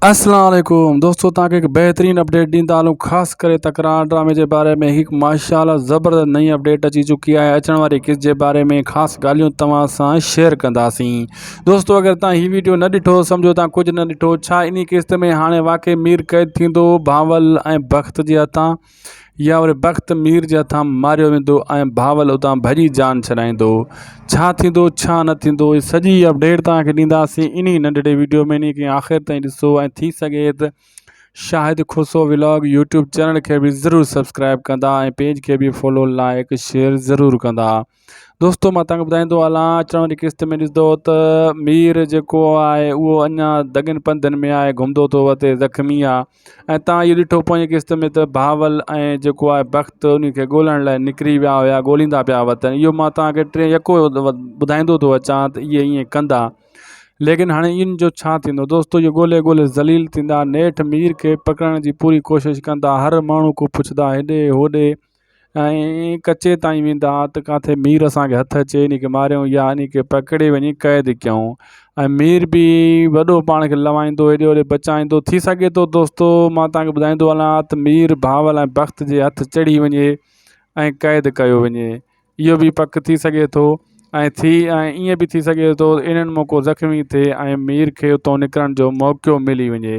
السلام عليڪم دوستو تان کي هڪ بهترين اپڊيٽ ڏيندا هلون خاص ڪري تڪرار ڊرامي جي باري ۾ هڪ ماشاءالله زبردست نئين اپڊيٽ اچي چڪي آهي اچڻ واري قسط جي باري ۾ خاص ڳالهيون توهان سان شيئر ڪنداسين دوستو اگر تان هي ويڊيو نه ڏٺو سمجهو تان ڪجهه نه ڏٺو ڇا انهي قسط ۾ هاڻي واقعي مير قيد ٿيندو بانول ۽ بخت جي هٿان يا وري بخت مير جي هٿان ماريو ويندو ۽ بهاول اتان ڀڄي جان ڇڏائيندو ڇا ٿيندو ڇا نه ٿيندو هي سڄي اپڊيٽ توهان کي ڏينداسين انهي ننڍڙي ويڊيو ۾ انهي کي آخر تائين ڏسو ۽ ٿي سگهي ته Shahid Khoso vlog YouTube channel کي به ضرور سبسڪرائب ڪندا ۽ پيج کي به فالو لائڪ شيئر ضرور ڪندا دوستو مان تنگ ٻڌائيندو هلان اچڻ واري قسط ۾ ڏسندو ته مير جيڪو آهي اهو اڃا دڳن پنڌن ۾ آهي گهمندو ٿو وتي زخمي آهي ۽ تان اهو ڏٺو پوئين قسط ۾ ته بهاول ۽ جيڪو آهي بخت ان کي ڳولهڻ لاء نڪري ويا هيا ڳولهيندا پيا وتن اهو مان تانکي ٽي يڪو ٻڌائيندو ٿو اچان ته اهي ايئن ڪندا ليڪن هاڻي ان جو ڇا ٿيندو دوستو اهي ڳولهي ڳولهي ذليل ٿيندا نيٺ مير کي پڪڙڻ جي پوري ڪوشش ڪندا هر ماڻهو کان پڇدا هيڏي هوڏي ۽ ڪچي تائين ويندا ها ته ڪاٿي مير اسان کي هٿ اچي انهي کي ماريون يا انهي کي پڪڙي وڃي قيد ڪيون ۽ مير به وڏو پاڻ کي لوائيندو هيڏي هوڏي بچائيندو ٿي سگهي ٿو دوستو مان توهان کي ٻڌائيندو هلان ها ته مير بهاول ۽ بخت جي هٿ چڙهي وڃي ۽ قيد ڪيو وڃي اهو به پڪ ٿي سگهي ٿو ۽ ٿي ۽ ائين به ٿي سگهي ٿو انهن موقعو زخمي ٿئي ۽ مير کي اتو نڪرڻ جو موقعو ملي وڃي